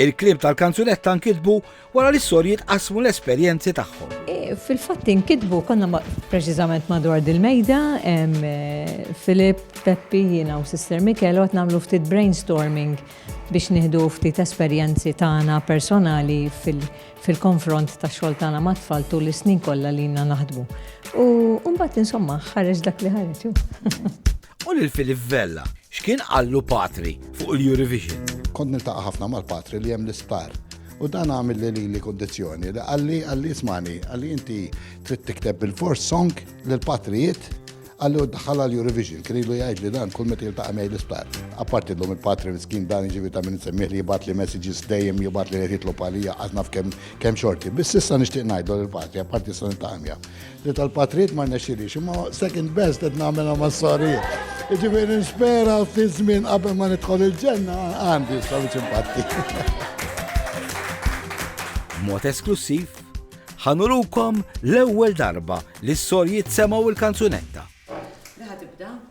Il-kliem tal-kanzunetta nkitbu wara li s-sorjiet qasmu l-esperjenzi tagħhom. Fil-fatt inkitbu konna preċiżament madwar dil-mejda, Filip, Peppi, jiena u Sister Mikel għot nagħmlu ftit brainstorming biex nieħdu ftit esperjenzi tagħna personali fil-konfront ta' xogħol tagħna mat-tfal tul is-snin kollha li jiena naħdmu. U mbagħad insomma ħareġ dak li ħareġ. U lil Philip Vella, x'kien qallu Patri fuq il-Eurovision? Kont niltaqa' ħafna mal-Patri li hemm l-isptar u dan għamilli lili kundizzjoni li qalli qalli ismagħni, qalli inti trid tikteb bilfors song lil Patri jgħid qalli u ddaħħalha l-Eurovision, kien ilu jgħidli dan kull meta jiltaqa' miegħi l-isptar. Apparti llum il-Patri miskin dan jiġifieri ta' min insemmih li jibgħatli messages dejjem jibgħatli qed jitlob għalija qatt naf kemm xorti. Biss issa nixtieq ngħidlu lill-Patri apparti issa niltaqa' miegħu. Di tal-patrijiet ma rnexxilix, imma second best qed nagħmilha mas-sorijiet. Jiġifieri nispera fi żmien qabel ma nidħol il-ġenna għandi s-sorijiet impatti. b'mod esklussiv, ħanurukom l-ewwel darba li s-sorjiet semaw il-kanzunetta. Liħa tibda?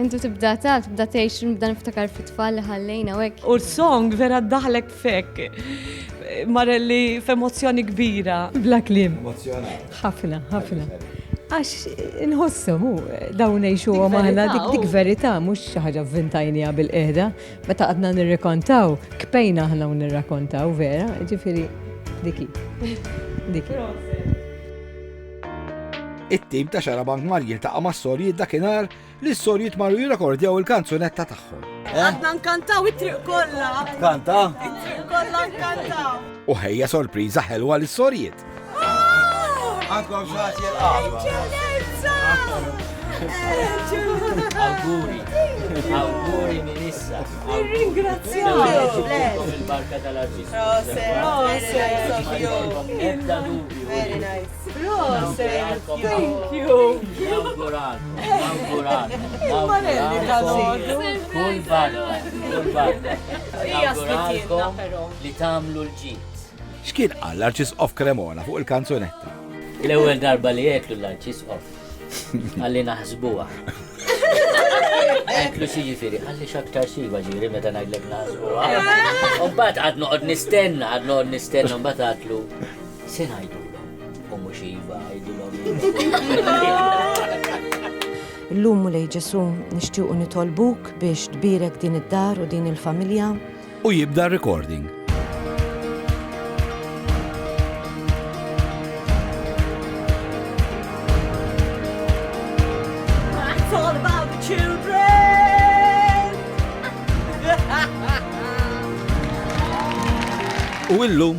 Intu tibda ta, tibda tgħix nibda niftakar fit-tfal li ħallejna u hekk. U song vera daħlek fek. Marelli f'emozzjoni kbira. Bla klim. Ħafna, ħafna. Għax inħossu, mu, dawn nejxu għamana dik dik verita, mux xaħġa vintajnija bil-qeda, meta għadna nirrekontaw, kpejna ħna nirrakontaw, vera, ġifiri, diki. Diki. It-tim ta' Xarabank mar jiltaqa' mas-sorjiet dakinhar li s-sorjiet marru jirrekordjaw il-kanzunetta tagħhom. Għadna nkantaw it-triq kollha. Kanta? It-triq kollha nkantaw. U ħejja sorpriża ħelwa lis-sorjiet. Għandkom xaħat jilqa. Awguri. Awguri minn issa. Ringrazzjak. Il-barka tal-arġis. Proset. Proset. Ebda dubju. Very nice. Proset! Thank you! Nawguralkom, nawguralkom. Il-manelli tal-ħodu. Kull barra, kull barra. Nawguralkom li tamlu l-ġit. X'kien qal l-Arċisqof Cremona fuq il-kanzunetta? L-ewwel darba li jeklu l-Arċisqof. Għalli naħsbuha. Eklu si ġifiri, għalli xaktar siva ġiri meta najdlek naħsbuha. Umbat għad noqgħod nistenna, għad noqgħod nistenna, umbat għatlu. Se ngħidulhom u mhux iva għidulhom int. Illum Mulej Ġesu' nixtiequ nitolbuk biex tbierek din id-dar u din il-familja. U jibda r-recording. U illum